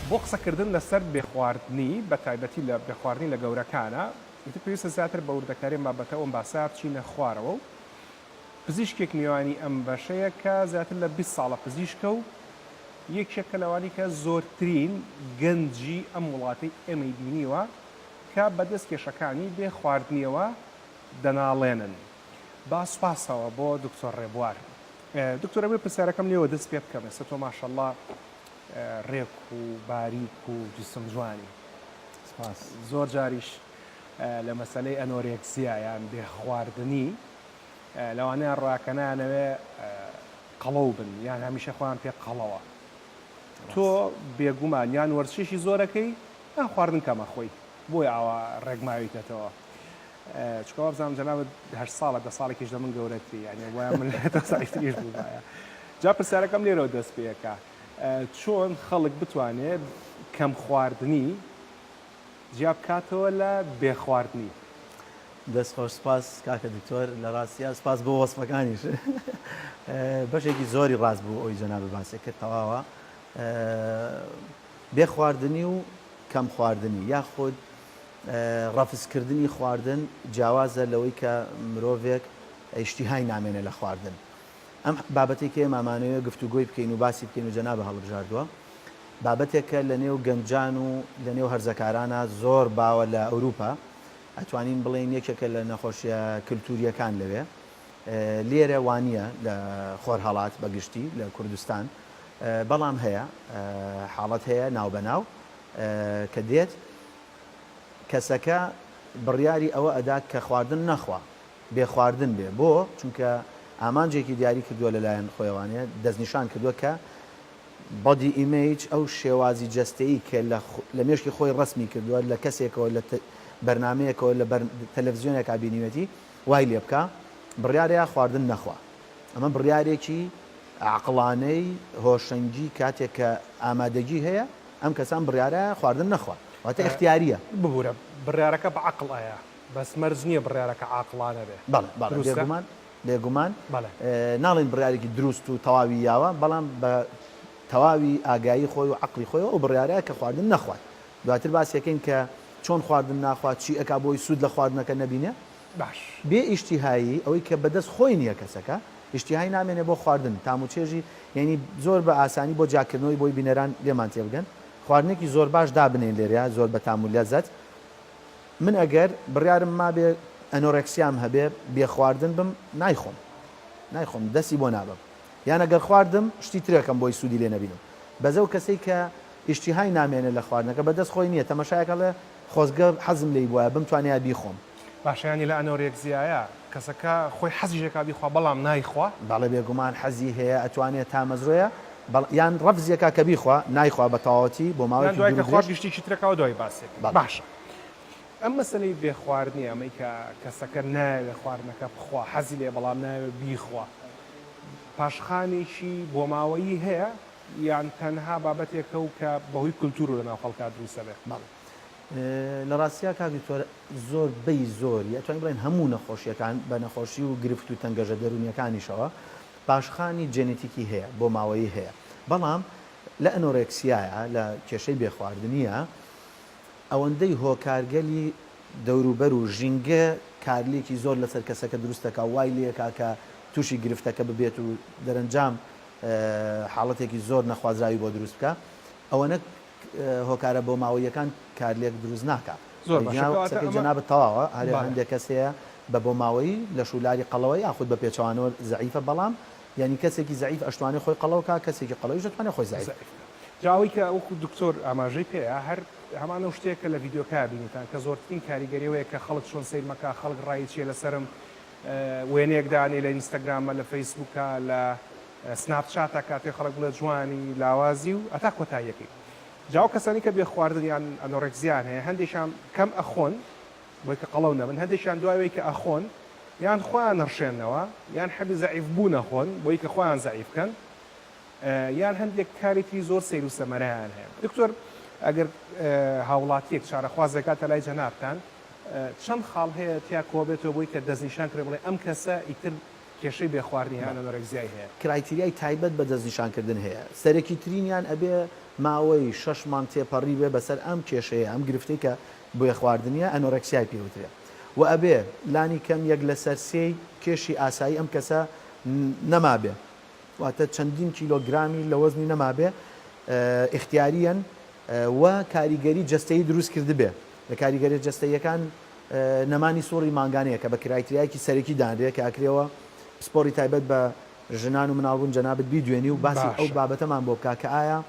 بۆ قسەکردن لەسەر بێخواردنی بە تایبەتی لە بێخواردنی لە گەورەکانە ئیتر پێویستە زیاتر بە وردەکاری بابەتە ئەم باسە بچینە خوارەوە و پزیشکێک میوانی ئەم بەشەیە کە زیاتر لە 20 ساڵە پزیشکە و یەکێکە لەوانی کە زۆرترین گەنجی ئەم وڵاتی ئێمەی بینیوە کە بەدەست کێشەکانی بێ خواردنیەوە دەناڵێنن با سوپاسەوە بۆ دکتۆر ڕێبوار دکتۆر ئەبێ پرسیارەکەم لێوە دەست پێ بکەم ئێستا تۆ ماشەڵڵا ڕێک و باریک و جسم جوانی سپاس زۆر جاریش لە مەسلەی ئەنۆرێکسیا یان بێ خواردنی لەوانەیە ڕاکەنانەوێ قەڵەو بن یان هەمیشە خۆیان پێ قەڵەوە تۆ بێگومان یان وەرزشێکی زۆرەکەی یان خواردن کەمە خۆی بۆی ئاوا ڕێگماویتەتەوە چونکە وابزانم جەنابت هەشت ساڵە دە ساڵێکیش لە من گەورەتری یانێ وایە من لە تۆ ساعتریش بوومایە جا پرسیارەکەم لێرەوە دەست پێەکە چۆن خەڵک بتوانێت کەم خواردنی جیا بکاتەوە لە بێخواردنی دەست خۆش سپاس کاکە دکتۆر لە ڕاستیا سپاس بۆ وەسفەکانیش بەشێکی زۆری ڕاست بوو ئەوی جەناب باسێک کرد تەواوە بێ خواردنی و کەم خواردنی یاخود ڕەفزکردنی خواردن جیاوازە لەوەی کە مرۆڤێک ئیشتیهای نامێنێ لە خواردن. ئەم بابەتەی کە ئێمە ئەمانەوێ گفتوگۆی بکەین و باسی بکەین و جەنابە هەڵبژاردووە، بابەتێکە لە نێو گەنجان و لە نێو هەرزەکارانا زۆر باوە لە ئەوروپا، ئەتوانین بڵێین یەکێکە لە نەخۆشییە کلتوورییەکان لەوێ. لێرە وا نییە لە خۆرهەڵات بە گشتی لە کوردستان، بەڵام هەیە حاڵەت هەیە ناو بە ناو کە دێت. کەسەکە بڕیاری ئەوە ئەدات کە خواردن نەخوا بێ خواردن بێ بۆ چونکە ئامانجێکی دیاری کردووە لەلایەن خۆیوانەیە دەستنیشان کردووە کە بەدی ئیمەیج ئەو شێوازی جەستەیی کە لە مێشکی خۆی ڕسمی کردووە لە کەسێکەوە لە بەرنمەیەکەوە لە تەلەڤزیۆنێکا بینیوەتی وای لێ بکە بڕارەیە خواردن نەخوا ئەمە بڕارێکی عقلانەی هۆشەنگی کاتێک کە ئامادەگی هەیە ئەم کەسان بڕیارە خواردن نەخوان واتە ئیختیاریە. ببورە بڕیارەکە بە عەقڵ ئەیە بەس مەرج نیە بڕیارەکە عاقڵانە بێ بەڵێ بەڵێ دروستە؟ بێگومان بێگومان بەڵێ. ناڵێین بڕیارێکی دروست و تەواوی یاوە بەڵام بە تەواوی ئاگایی خۆی و عەقڵی خۆیەوە ئەو بڕیارە کە خواردن نەخوات دواتر باسیەکەین کە چۆن خواردن ناخوات چی ئەکا بۆی سود لە خواردنەکە نەبینێ باش. بێ ئیشتیهایی، ئەوەی کە بەدەست خۆی نییە کەسەکە، ئیشتیهای نامێنێ بۆ خواردن، تام و چێژی یەنی زۆر بە ئاسانی بۆ جیاکردنەوەی بۆی بینەران لێمان تێبگەن خواردنێکی زۆر باش دابنێین لێرەیا زۆر بە تام و لەزەت من ئەگەر بڕیارم مابێ ئەنۆرێکسیام هەبێ بێ خواردن بم نایخۆم نایخۆم دەستی بۆ نابەم یان ئەگەر خواردم شتی ترەکەم بۆی سوودی لێ نەبینم بەس ئەو کەسەی کە ئیشتیهای نامێنێ لە خواردنەکە بەدەست خۆی نییە تەمەشایەکە لە خۆزگە حەزم لێی بوایە بمتوانیا بیخۆم. باشە یانی لە ئەنۆرێکزیایە کەسەکە خۆی حەزیشەکا بیخوا بەڵام نایخوا؟ بەڵێ بێگومان حەزی هەیە ئەتوانێ تامەزرۆیە بەڵ یان ڕەفزیەکا کە بیخوا نایخوا بە تەواوەتی بۆ ماوەیەکی دوور و درێژ. یان دوای کە خوارد گشتێکی ترەکا و دوای باسێ کرد. باشە ئەم مەسەلەی بێ خواردنی ئەمەی کە کەسەکە نایەوێ خواردنەکە بخوا حەزی لێ بەڵام نایەوێ بیخوا پاشخانێکی بۆماوەیی هەیە یان تەنها بابەتێکە و کە بەهۆی کولتوور و لەناو خەڵکا دروستەبێ؟ بەڵێ لە ڕاستیا کاک دکتۆر زۆر بەی زۆری ئەتوانین بڵێن هەموو نەخۆشیەکان بە نەخۆشی و گرفت و تەنگەژە دەرونیەکانیشەوە پاشخانی جێنێتیکی هەیە بۆ ماوەیی هەیە بەڵام لە ئەنۆرێکسیایە لە کێشەی بێخواردنیە ئەوەندەی هۆکارگەلی دەوروبەر و ژینگە کارلێکی زۆر لەسەر کەسەکە دروستەکە وای لەکە کە تووشی گرفتەکە ببێت و دەرەنجام حاڵەتێکی زۆر نەخوازراوی بۆ دروست بکە ئەوەنە هۆکارە بۆماوەییەکان کارلێک دروست ناکا. زۆر باشە کەواتە ئەمە. قسەکەی جەنابت تەواوە هەرێ بەڵێ. هەندێ کەس هەیە بە بۆماوەیی لەش و لاری قەڵەوە یاخود بە پێچەوانەوە زەعیفە بەڵام یانی کەسێکی زەعیف ئەشتوانێ خۆی قەڵەو کا کەسێکی قەڵەویش ئەتوانێ خۆی زەعیف زەعیف کا. جا ئەوەی کە وەکو دکتۆر ئاماژەی پێیە هەر هەمان ئەو شتەیە کە لە ڤیدیۆکە بینیتان کە زۆرترین کاریگەری ئەوەیە کە خەڵک چۆن سەیرمە کا خەڵک ڕایی چیە لەسەرم وێنەیەک دانێ لە ئینستاگرامە لە فەیسبووکە لە سناپ چات ئەکات پێ خەڵک بڵێ جوانی لاوازی و هەتا کۆتاییەکەی جا ئەو کەسانەی کە بێ خواردن یان ئەنۆرێکزیان هەیە هەندێکیان کەم ئەخۆن بۆی کە قەڵەو نەبن هەندێکیان دوای ئەوەی کە ئەخۆن یان خۆیان نڕشێنەوە یان حەبی زەعیف بوو نەخۆن بۆی کە خۆیان زەعیف کەن یان هەندێک کاری تری زۆر سەیر و سەمەرەیان هەیە دکتۆر ئەگەر هاوڵاتیەک چارەخوازێکات لە لای جەنابتان چەند خاڵ هەیە تیا کۆبێتەوە بۆی کە دەستنیشان کرێ بڵێ ئەم کەسە ئیتر کێشەی بێ خوار نیە ئانۆرێکزیای هەیە. کرایتیریای تایبەت بە دەستنیشانکردن هەیە سەرەکیترینیان ئەبێ ماوەی شەش مانگ تێپەڕی بێ بەسەر ئەم کێشەیە ئەم گرفتەی کە بێ خواردنیە ئەنۆرێکسیای پێ وترێ وە ئەبێ لانی کەم یەک لەسەر سێی کێشی ئاسایی ئەم کەسە نەمابێ واتە چەندین کیلۆ گرامی لە وەزنی نەمابێ ئیختیاریەن وە کاریگەری جەستەیی دروست کردبێ لە کاریگەریە جەستەییەکان نەمانی سوڕی مانگانەیە کە بە کرایتریایەکی سەرەکی دانرێ کە ئەکرێوە پسپۆڕی تایبەت بە ژنان و مناڵبوون جەنابت بیدوێنی و باسی ئەو بابەتەمان بۆ بکا کە ئایا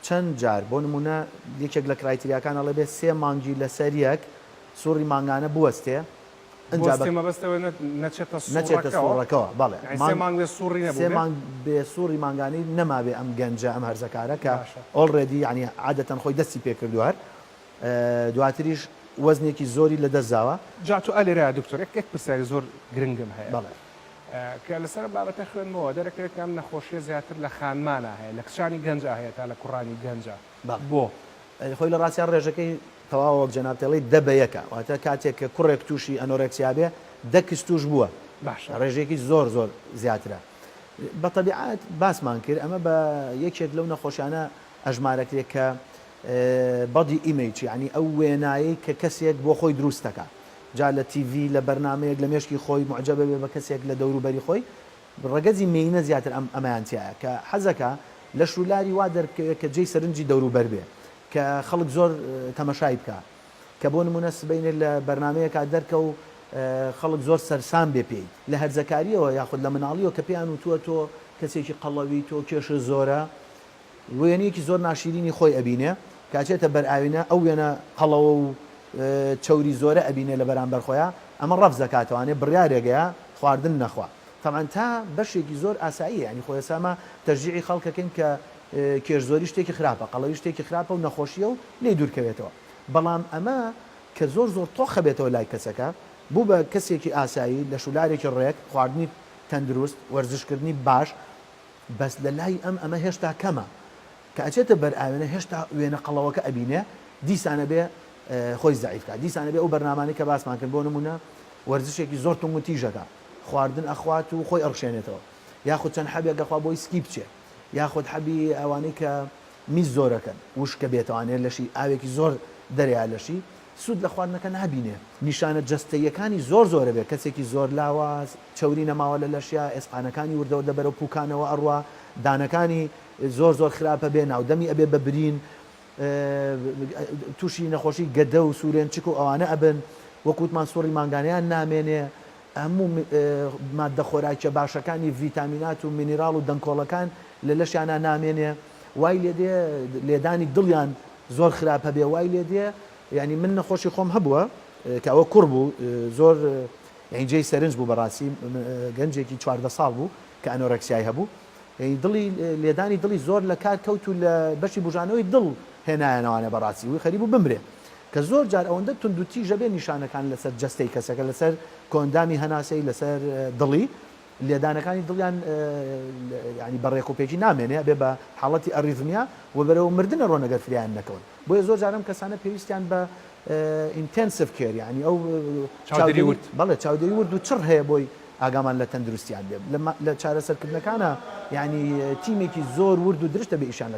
چەند جار بۆ نموونە یەکێک لە کرایتریاکان ئەڵێ بێ سێ مانگی لەسەر یەک سوڕی مانگانە بوەستێ ئەنجا بە نەچێتە سوڕەکەوە بەڵێ سێ مانگ بێ سوڕی نەبێ سێ مانگ بێ سوڕی مانگانەی نەمابێ ئەم گەنجە ئەم هەرزەکارە کە ئۆڵڕێدی یانی عادەتەن خۆی دەستی پێ کردووە دواتریش وەزنێکی زۆری لە دەست داوە. جا تۆ ئەلێرە دکتۆر ئێک ئێک پرسیاری زۆر گرنگم هەیە بەڵێ. کە لەسەر ئەم بابەتە خوێندمەوە دەرەکەوێت کە ئەم نەخۆشیە زیاتر لە خانمانا هەیە لە کچانی گەنجا هەیە تا لە کوڕانی گەنجا بەڵێ بۆ؟ خۆی لە ڕاستیا ڕێژەکەی تەواوە وەک جەنابت ئەڵێی دە بە یەکە واتە کاتێک کە کوڕێک توشی ئەنۆرێکسیا بێ دە کچ توش بووە باشە. ڕێژەیەکی زۆر زۆر زیاترە بە تەبیعەت باسمان کرد ئەمە بە یەکێک لەو نەخۆشیانە ئەژمارەکرێ کە Body Image یانی ئەو وێنایەی کە کەسێک بۆ خۆی دروست دەکا جا لە تیڤی لە بەرنامەیەک لە مێشکی خۆی موعجەبە بێ بە کەسێک لە دەورو بەری خۆی ڕەگەزی مێینە زیاتر ئەم ئەمەیان تیایە کە حەزەکا لەش و لاری وا دەربکەوێ کە جێی سەرنجی دەورو بەر بێ کە خەڵک زۆر تەمەشای بکا کە بۆ نمونە سبەینێ لە بەرنامەیەکا دەرکە و خەڵک زۆر سەرسام بێ پێی لە هەرزەکاریەوە یاخود لە مناڵیەوە کە پێیان وتوە تۆ کەسێکی قەڵەوی تۆ کێشت زۆرە وێنەیەکی زۆر ناشیرینی خۆی ئەبینێ کە ئەچێتە بەر ئاوینە ئەو وێنە قەڵەوە و چەوری زۆرە ئەبینێ لە بەرامبەر خۆیا ئەمە ڕەفز ئەکاتەوانێ بڕیارێگەیا خواردن نەخوا تەبعەن تا بەشێکی زۆر ئاساییە یانی خۆ ئێستا ئەمە تەشجیعی خەڵکەکەین کە کێش زۆری شتێکی خراپە قەڵەوی شتێکی خراپە و نەخۆشیە و لێ دوورکەوێتەوە بەڵام ئەمە کە زۆر زۆر تۆخە بێتەوە لای کەسەکە بوو بە کەسێکی ئاسایی لە شولارێکی ڕێک خواردنی تەندروست وەرزشکردنی باش بەس لە لای ئەم ئەمە هێشتا کەمە کە ئەچێتە بەر ئاوێنە هێشتا وێنە قەڵەوەکە ئەبینێ دیسان ئەبێ خۆی زەعیف کا دیسان ئەبێ ئەو بەرنامانەی کە باسمان کرد بۆ نمونە وەرزشێکی زۆر تونگ و تیژەکە خواردن ئەخوات و خۆی ئەڕشێنێتەوە یاخود چەند حەبێک گەخوا بۆی سکی بچێ یاخود حەبی ئەوانەی کە میز زۆرەکەن وشکە بێتوانێت لەشی ئاوێکی زۆر دەریا لەشی سوود لە خواردنەکە نابینێ. نیشانە جەستەییەکانی زۆر زۆرە بێ، کەسێکی زۆر لاواز، چەوری نەماوە لە لەشیا، ئێسقانەکانی وردەوردە بەرەو پووکانەوە ئەڕوا، دانەکانی زۆر زۆر خراپە بێ، ناودەمی ئەبێ بە برین، تووشی نەخۆشی گەدە و سوورێنچک و ئەوانە ئەبن، وەک وتمان سوڕی مانگانەیان نامێنێ، هەموو ماددە خۆراکییە باشەکانی ڤیتامینات و مینیراڵ و دەنکۆڵەکان لە لەشیانا نامێنێ، وای لێدێ لێدانی دڵیان. زۆر خراپ هەبێ وای لێ دێ یانی من نەخۆشی خۆم هەبووە کە ئەوە کوڕ بوو زۆر یعنی جێی سەرنج بوو بەڕاستی گەنجێکی چواردە ساڵ بوو کە ئەنۆرەکسیای هەبوو یعنی دڵی لێدانی دڵی زۆر لە کار کەوت و لە بەشی بژانەوەی دڵ هێنایانەوانە بەڕاستی وی خەریب و بمرێ کە زۆر جار ئەوەندە توندوتیژە بێ نیشانەکان لەسەر جستەی کەسەکە لەسەر کۆندامی هەناسەی لەسەر دڵی لێدانەکانی دڵیان یانی بە ڕێک و پێکی نامێنێ ئەبێ بە حاڵەتی ئەڕیزمیا و بەرەو مردن ئەڕۆن ئەگەر فرێیان نەکەون بۆیە زۆر جار ئەم کەسانە پێویستیان بە ئینتێنسڤ کێر یانی ئەو چاودێری ورد بەڵێ چاودێری ورد و چڕ هەیە بۆی ئاگامان لە تەندروستیان بێ لە چارەسەرکردنەکانە یانی تیمێکی زۆر ورد و درشت ئەبێ ئیشیان لەگەڵ